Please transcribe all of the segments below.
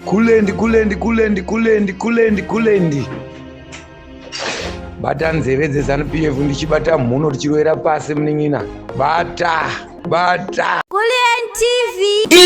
Kulendi, kulendi, kulendi, kulendi, kulendi, kulendi. Bata nzeve dzeZanu PF ndichibata mhuno tichiroera pasi munin'ina. Bata, bata. Kulendi TV.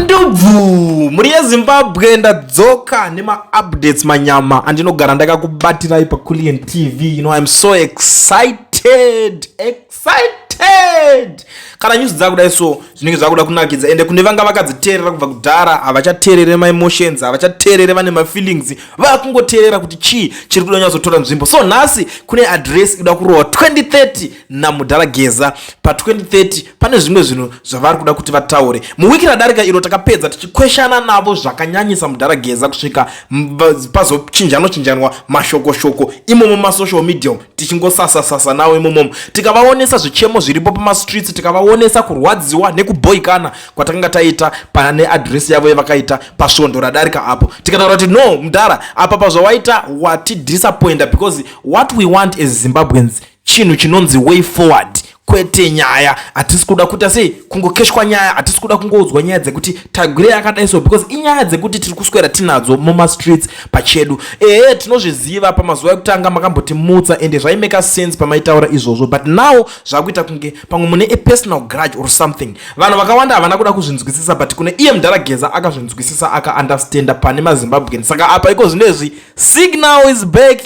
ndubvu mhuri yezimbabwe ndadzoka nemaupdates manyama andinogara ndakakubatirai paculian tv you know iam so excited excited kana nyuzi dzakudai so zvinenge zvakuda kunakidza ende kune vanga vakadziteerera kubva kudhara havachateerere maemotions havachateerere vane mafeelings vakungoteerera kuti chii chiri kuda nyatsotora nzvimbo so nhasi kune adress ikuda kurohwa 2030 namudhara geza pa2030 pane zvimwe zvinhu zvavari kuda kuti vataure muwiki radarika iro takapedza tichikweshana navo zvakanyanyisa mudhara geza kusvika pazochinjanwa chinjanwa mashokoshoko imomo masocial medium tichingosasa sasa nawo imomomo tikavaonesa zvichemo zviripo pamastreets tikavaonesa kurwadziwa nekubhoikana kwatakanga taita pane adresi yavo yevakaita pasvondo radarika apo tikataura kuti no mudhara apa pazvawaita watidisappointa because what we want as zimbabweans chinhu chinonzi way forward kwete nyaya hatisi kuda kuita sei kungokeshwa nyaya hatisi kuda kungoudzwa nyaya dzekuti tagwire yakadai so because inyaya dzekuti tiri kuswera tinadzo mumastreets pachedu ehe tinozviziva pamazuva ekutanga makambotimutsa ende zvaimeka sense pamaitaura izvozvo but now zvakuita kunge pamwe mune a personal grudge or something vanhu vakawanda havana kuda kuzvinzwisisa but kune iye mdara geza akazvinzwisisa akaunderstanda pane mazimbabwean saka apa iko zvino izvi Signal is back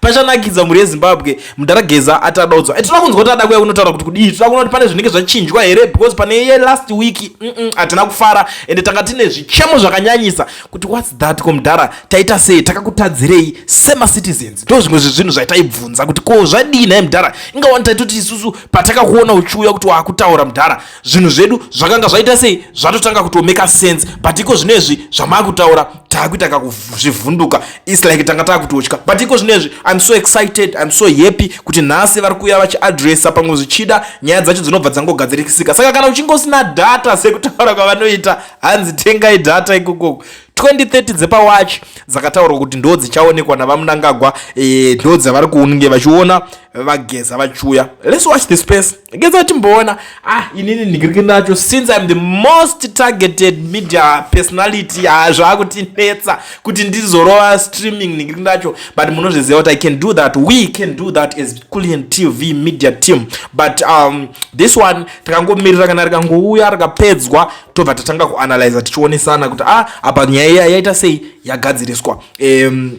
pachanakidza mhuri yezimbabwe mudhara geza ati adaudzwa eh, tinoda kunzwa kuti ada kuya kunotaura kuti kudii tinoda kuona kuti pane zvinenge zvachinjwa here because pane ye last week hatina kufara ende tanga tine zvichemo zvakanyanyisa kuti whats that ko mudhara taita sei takakutadzirei semacitizens ndo zvimwe zvezvinhu zvaitaibvunza kuti ko zvadii naye mudhara ingawani taitoti isusu patakakuona uchiuya kuti waakutaura mudhara zvinhu zvedu zvakanga zvaita sei zvatotanga kutomeka sense but iko zvino izvi zvamakutaura takuita kakuzvivhunduka its like tanga takutotya but iko zvino izvi im so excited im so happy kuti nhasi vari kuuya vachiadressa pamwe zvichida nyaya dzacho dzinobva dzangogadzirikisika saka kana uchingosina data sekutaura kwavanoita hanzi tengai data ikokoko 2030 dzepawachi dzakataurwa kuti ndo dzichaonekwa navamunangagwa eh, ndo dzavari kunge vachiona vageza vachiuya let's watch this space Ngeza timboona ah inini ndigiriki nacho since I'm the most targeted media personality ah zvakutinetsa kuti ndizorova streaming ndigiriki nacho but munozviziva kuti I can do that we can do that as Kulien TV media team but um this one takangomirira kana rikangouya rakapedzwa tobva tatanga kuanalyza tichionesana kuti ah apa nyaya yaita sei yagadziriswa um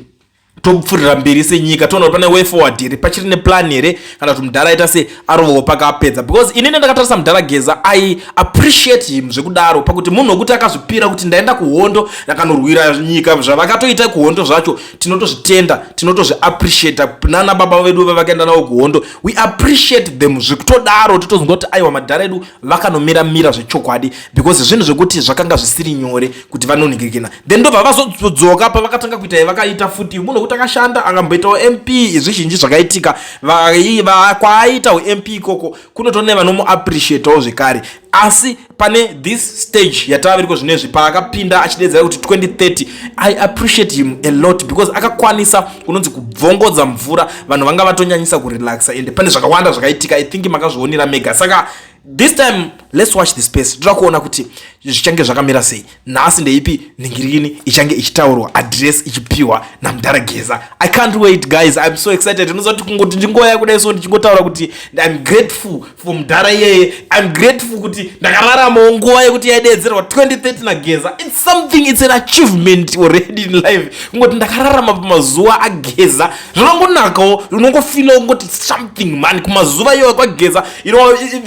topfuurira mberi senyika toona kuti pane way forward here pachiri neplan here kana kuti mudhara aita se arovawo pakapedza because inini ndakatarisa mudhara geza i appreciate him zvekudaro pakuti munhu wekuti akazvipira kuti ndaenda kuhondo ndakanorwira nyika zvavakatoita kuhondo zvacho tinotozvitenda tinotozviappreciate nana baba vedu vevakaenda navo kuhondo we appreciate them zvekutodaro totozonga kuti aiwa madhara edu vakanomira mira zvechokwadi because zvinhu zvekuti zvakanga zvisiri nyore kuti vanonhikirikina then ndobva vazodzoka pavakatanga kuita yavakaita futi munhu wekuti akashanda akamboitawo mp zvizhinji zvakaitika kwaaita ump ikoko kunotone vanomuappreciatawo zvekare asi pane this stage yataviriko zvino izvi paakapinda achidedzera kuti 2030 i appreciate him a lot because akakwanisa kunonzi kubvongodza mvura vanhu vanga vatonyanyisa kurelaxa ende pane zvakawanda zvakaitika i think makazvionera mega saka this time let's watch the space toda kuona kuti zvichange zvakamira sei nhasi ndeipi nhingirini ichange ichitaurwa address ichipiwa namdhara geza i can't wait guys iam so excited unozoti kungoti ndingoya kudai so ndichingotaura kuti iam grateful for mdhara iyeye iam grateful kuti ndakararamawo nguva yekuti yaideedzerwa 2030 nageza its something its an achievement already in life kungoti ndakararama pamazuva ageza zvinongonakawo unongofilawo ngoti something mani kumazuva iyoyo kwageza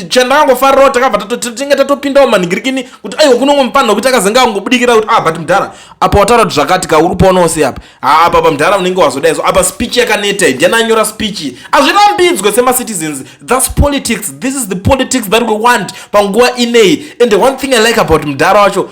chandakangofarirawo takabva tinge tatopindawo manhingirikini kuti aiwa kunongo mupanha kuti akazenge angobudikira kuti ah but mudhara apa wataura kuti zvakati ka uri poonawo sei apa haa apa pa mudhara unenge wazodai so apa speech yakaneta ndiani anyora speech hazvirambidzwe semacitizens thats politics this is the politics that we want panguva ineyi and one thing i like about mudhara wacho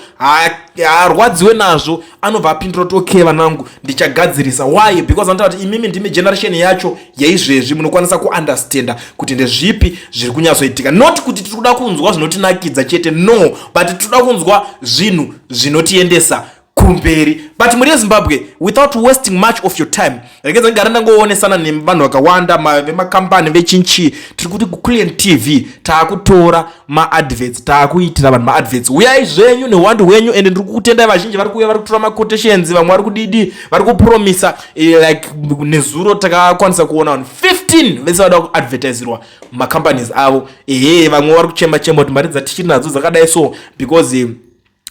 haarwadziwe nazvo anobva apindura kuti okay vanangu ndichagadzirisa why because anotaura kuti imimi ndimi generation yacho yaizvezvi munokwanisa kuunderstanda kuti ndezvipi zviri kunyatsoitika not kuti tiri kuda kunzwa zvinotinakidza chete no but tiri kuda kunzwa zvinhu zvinotiendesa kumberi but muri yezimbabwe without wasting much of your time regedza gara ndangoonesana nevanhu vakawanda vemakambani vechinchi tiri kuti kuclient tv taakutora maadverts taakuitira vanhu maadverts uyai zvenyu nehuwandu hwenyu ende ndiri kukutendai vazhinji vari kuuya vari kutora maquotations vamwe vari kudidi vari kupromisa eh, like nezuro takakwanisa kuona vanhu 15 vese vada kuadvertisirwa macompanies avo ehe vamwe vari kuchemba chemba kuti mari dzatichiri nadzo dzakadai so because eh,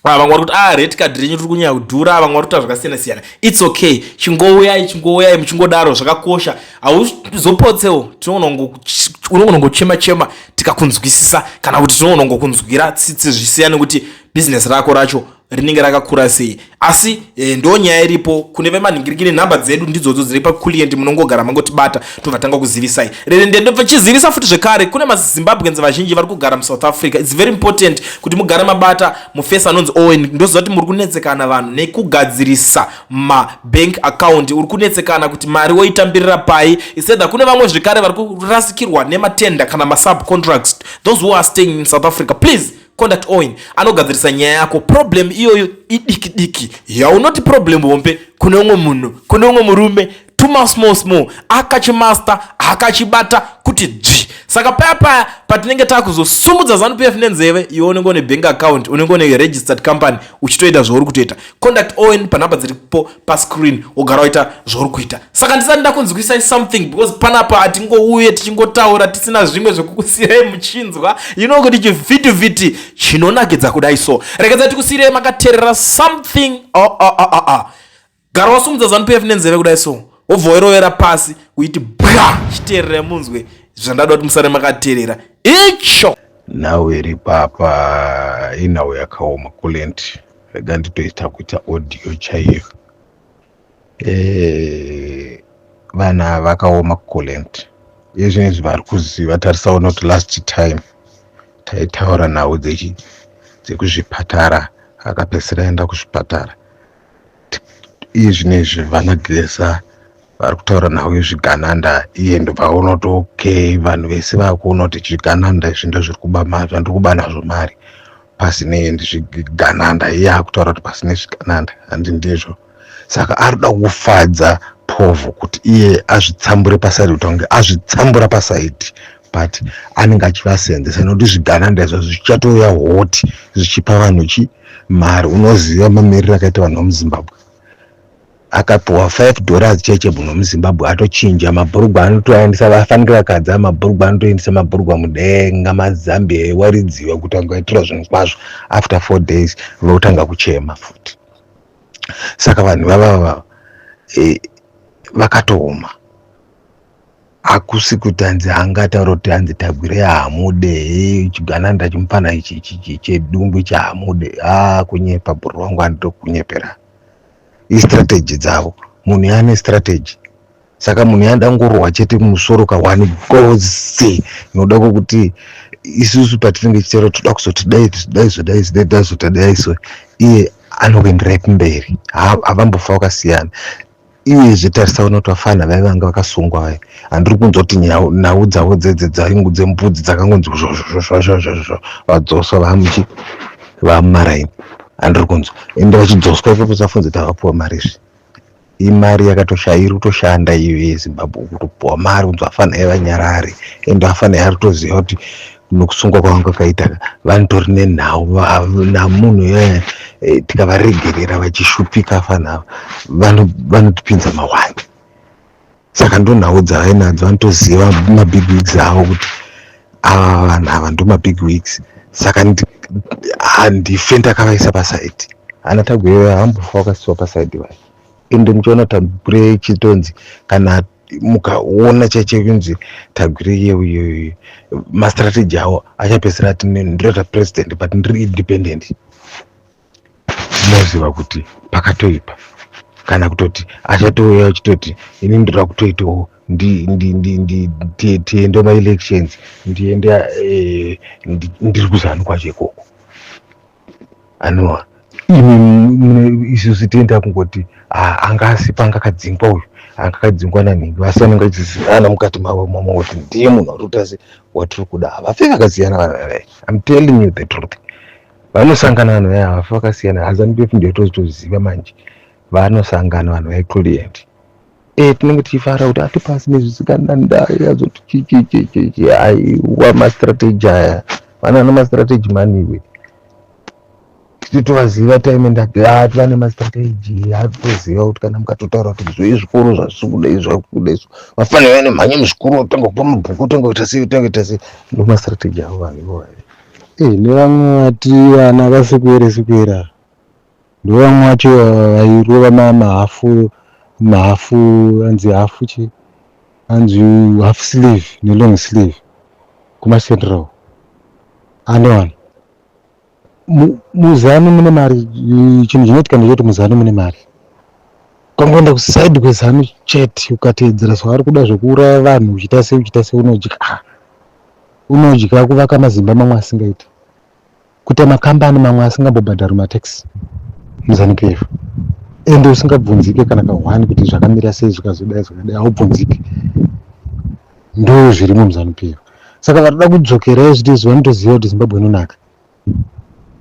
Ah, vamwe vari kuti ah red card renyu riri kunyanya kudhura vamwe vari kuita zvakasiyana siyana its okay chingouyai chingouyai muchingodaro zvakakosha hauzopotsewo tinonogona ngochema chema tikakunzwisisa kana kuti tinogona ngokunzwira tsitsi zvisiyane kuti bhizinesi rako racho rinenge rakakura sei asi e, ndo nyaya iripo kune vemanhingirikiri nhamba dzedu ndidzodzo dziri pakulient munongogara mangotibata tobvatanga kuzivisai chizivisa futi zvekare kune mazimbabwens vazhinji vari kugara muSouth Africa its very important kuti mugare mabata mufesi anonzi owen ndoziva kuti muri kunetsekana vanhu nekugadzirisa mabank account uri kunetsekana kuti mari woitambirira pai iseda kune vamwe zvekare vari kurasikirwa nematenda kana masubcontracts those who are staying in South Africa please conduct oin anogadzirisa nyaya yako problem iyoyo idiki diki yaunoti problem hombe kune umwe munhu kune umwe murume tuma small small akachimasta akachibata kuti dzvi saka paya paya patinenge takuzosumudza zanup f nenzeve iwe unenge une bank account unenge une registered company uchitoita zvauri kutoita conduct oin panhamba dziripo pascreen wogara waita zvauri kuita saka ndisati ndakunzwisai something because panapa hatingouye tichingotaura tisina zvimwe zvekukusiyirai muchinzwa you know kuti chivhitivhiti chinonakidza kudai so rekedza tikusiyirai makaterera something oh, oh, oh, oh, oh. gara wasumudza zanup f nenzeve kudai so wobva wairovera pasi kuiti bwa chitererai munzwe zvandada kuti musare makaterera icho nhau iri papa inhau yakaoma kulenti rega nditoita kuita audio chaiyo eh, vana vakaoma kucolent yezvinezvi vari kuziva tarisawo not last time taitaura nhau dzekuzvipatara akapedzisira aenda kuzvipatara iye zvinezvi vana gilesa vari kutaura nhau yezvigananda iye ndobva unoti okay vanhu vese vakuona kuti zvigananda izvi ndozviri kuba zvandiri kuba nazvo mari pasine zvigananda iye akutaura kuti pasine zvigananda handi ndizvo saka ari kuda kufadza povho kuti iye azvitsambure pasaidi kuti ange azvitsambura pasaidi but anenge achivasenzesa nokuti zvigananda izvo zvichatouya hoti zvichipa vanhu chi mari unoziva mamiriro akaita vanhu vemuzimbabwe akapiwa 5 dollars chete muno muzimbabwe atochinja mabhurugwa anotoaendesa vafanike vakadza mabhurugwa anotoendesa mabhurugwa mudenga mazambia ewaridziwa kuti angaitira zvinhu kwazvo after four days votanga kuchema futi saka vanhu vavava e, vakatooma hakusi kuti hanzi haangataura kuti hanzi tagwire hamude chigana ndachimupana ichi chedungwe chahamude ha kunyepa bhuru wangu anitokunyepera istrategy dzavo munhu yaane strategy saka munhu yanda ngorohwa chete musoro ka one gozi inoda kokuti isusu patinenge chitero toda kuzoti dai dai zodai zidai dai zotadai so iye anokuenderai kumberi havambofa vakasiyana iyezve tarisa vanoti vafana vaive vanga vakasungwa vaye handiri kunzwa kuti nhau dzavo dzedze dzaingu dzembudzi dzakangonzi zvozvozvozvozvozvo vadzoswa vamuchi vamumaraini handiri kunzwa ende vachidzoswa ipapo safunza kuti havapuwa mari izvi imari yakatoshairi kutoshanda iyo yezimbabwe kutopuwa mari kunzi vafana evanyarari ende vafana yari toziva kuti nokusungwa kwavanga kwakaita vanhu tori nenhau namunhu iyoyo eh, tikavaregerera vachishupika fanava vanotipinza mahwani saka ndonhau dzavainadzo vanotoziva mabig wigs avo kuti ava vanhu ava ndomabig wigs saka handife ndakavaisa pasaidi ana taguyeyo hambofa vakasiwa pasaidi vayo ende muchiona tagwire chitonzi kana mukaona chaiche kunzi tagwire yeuyoyo mastrategy awo achapesera ati ndirota president but ndiri independent moziva kuti pakatoipa kana kutoti achatouya achitoti ini ndoda kutoitawo tiende maelections ndiende eh, ndiri kuzanu kwacho ikoko anoa imi isu sitenda kungoti anga asi panga kadzingwa uyu anga kadzingwa nanhingi vasi vanenge vachizivana mukati mavo mama kuti ndiye munhu ari kuita se watiri kuda ava fe vakasiyana vanhu vavai im telling you the truth vanosangana vanhu vaya havafe vakasiyana hazanipef ndiyo tozitoziva manje vanosangana vanhu vai client Eh, tinenge tichifara kuti hatipasi nezvisikana ndai azoti chichichichichi aiwa mastrategy aya vana ana mastrategy mani iwe titi tovaziva time ndati hati vane mastrategy hatoziva kuti kana mukatotaura kuti izvo izvikoro zvazvisi kuda izvo akukuda izvo vafanira vane mhanye muzvikoro otanga kupa mabhuku otanga kuita sei otanga kuita sei ndo mastrategy avo vanhu ivo vave Eh, nevamwe vati vana vasikuere sikuera Ndovamwe vacho vairova mahafu mahafu anzi hafu chi anzi half sleeve nelong sleeve kumacentral anowana muzanu mune mari chinhu chinoitika ndechekuti muzanu mune mari ukangoenda kuside kwezanu chete ukateedzera zvavari kuda zvekuuraya vanhu uchita sei uchita sei unodya unodya kuvaka mazimba mamwe asingaiti kuita makambani mamwe asingambobhadhari matax muZanu PF ende usingabvunzike kana kahwani kuti zvakamira sei zvikazodai zvakadai haubvunzike ndo zvirimo muZanu PF saka vatoda kudzokerai zvitizvo vanotoziva kuti zimbabwe inonaka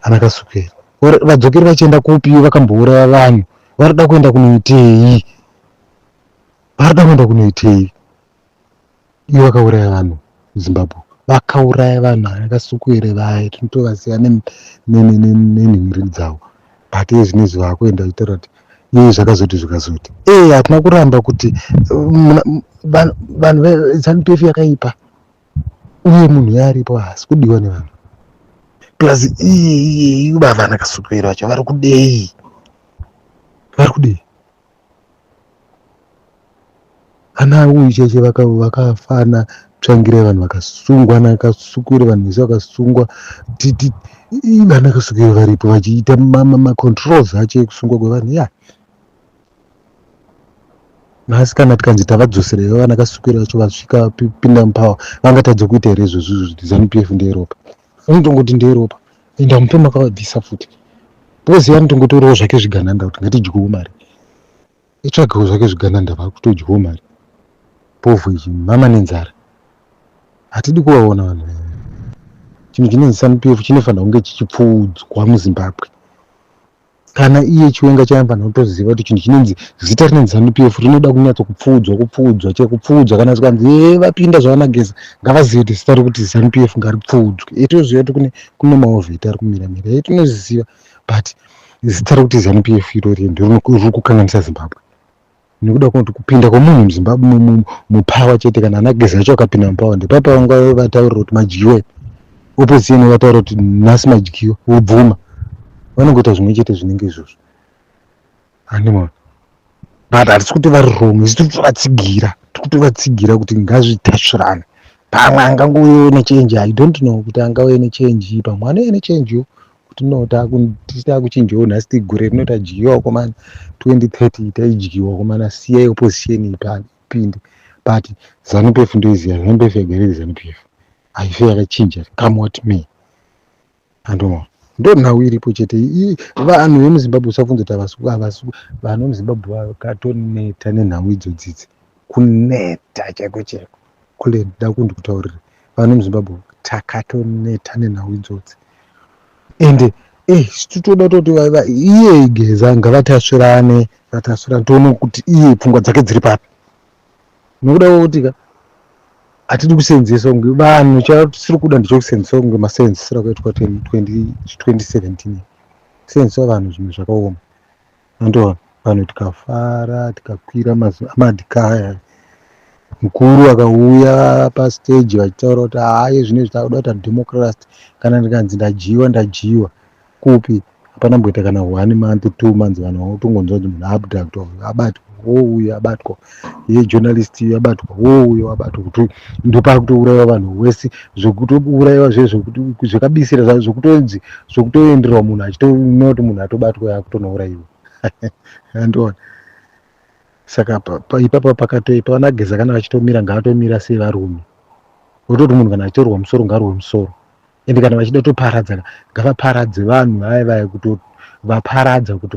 ana kasukera vadzokeri vachienda kupi vakambouraya vanhu vanoda kuenda kunoitei vanoda kuenda kunoitei Iye vakauraya vanhu Zimbabwe vakauraya vanhu akasukuere vaye tinotovaziva nenhimiri dzavo but iye zvinezvi vakuenda kutaura kuti iye zvakazoti zvikazoti ee hatina kuramba kuti vanhu zanu pf yakaipa uye munhu yaaripo haasi kudiwa nevanhu plus iye iye iye vavana kasukuere vacho vari kudei vari kudei Ana uyu cheche vakafana tsvangire vanhu vakasungwa ana akasukuire vanhu vese vakasungwa titi vana akasukuire varipo vachiita macontrols acho ekusungwa kwevanhu ya nhasi kana tikanzi tavadzosereiva vana akasukuire vacho vasvika pinda mupower vangatadze kuita here izvozvo izvozvo zanu p f ndeyeropa anotongoti nderopa and amupe makavabvisa futi because anotongotorawo zvake zvigananda kuti ngatidyewo mari itsvagewo zvake zvigananda vakutodyewo mari povhu ichi mama nenzara hatidi kuvaona vanhu chinhu chinonzi sanupf chinofanira kunge chichipfuudzwa muzimbabwe kana iye chiwenga chaimbana kutoziva kuti chinhu chinonzi zita rinonzi zanu p f rinoda kunyatso kupfuudzwa kupfuudzwa che kupfuudzwa kana zvikanzi ee vapinda zvavanageza ngavazive kuti zita rekuti zanu p f ngaripfuudzwe e tinoziva kuti kune kune maovheti ari kumira mira e tinozviziva but zita rekuti zanu p f irori ende riri kukanganisa zimbabwe nekuda kwekuti kupinda kwemunhu muzimbabwe mupawa chete kana ana gezi acho akapinda mupawa ndepapa vanga vataurira kuti madyiwa opposition vataura kuti nhasi madyiwa vobvuma vanongoita zvimwe chete zvinenge izvozvo animal but hatisi kuti vari wrong isi tiri kutovatsigira tiri kutovatsigira kuti ngazvitasvirane pamwe angangouyewo nechange i don't know kuti angauye nechange pamwe anouye nechange yo kuti no takuchinjawo nhasi tigure rino tadyiwa komana 2030 taidyiwa komana siya opposition ipinde but zanu pf ndoiziva zanu pf yagariri zanu pf haife yakachinja come what me andoma ndo nhau iripo chete vanhu vemuzimbabwe usabvunza kuti avasuku avasuku vanhu vemuzimbabwe vakatoneta nenhau idzodzidzi kuneta chaiko chaiko kule ndida kundi kutaurira vanhu muzimbabwe takatoneta nenhau idzodzi ende eh, titoda toti iye igeza ngavatasvirane vatasvirane toona kuti iye pfungwa dzake dziri papi nokuda kwekuti ka hatidi kusenzesa kunge vanhu chatisiri kuda ndichokusenzesa kunge masenzesera kwaitwa 2017 senzesa vanhu zvimwe zvakaoma Andoona vanhu tikafara tikakwira madhikaya mukuru akauya pastage vachitaura kuti haye zvine zvitakuda kuita democrasty kana ndikanzi ndadyiwa ndadyiwa kupi hapana mboita kana one month two months vanhu vanotongonzwa kuti munhu abductwa abatwa wouya abatwa yejournalist yabatwa wo uyo wabatwa kuti ndopari kutouraiwa vanhu wese zvekutouraiwa zve zvekabisira zva zvekutonzi zvekutoenderwa munhu achitoona kuti munhu atobatwa yakutonouraiwa andiona saka ipapa pakatoipa vanageza kana vachitomira ngavatomira sevarume vototi munhu kana achitorwa musoro ngarwe musoro ende kana vachida toparadzana ngavaparadze vanhu vaya vaya kuti vaparadza kuti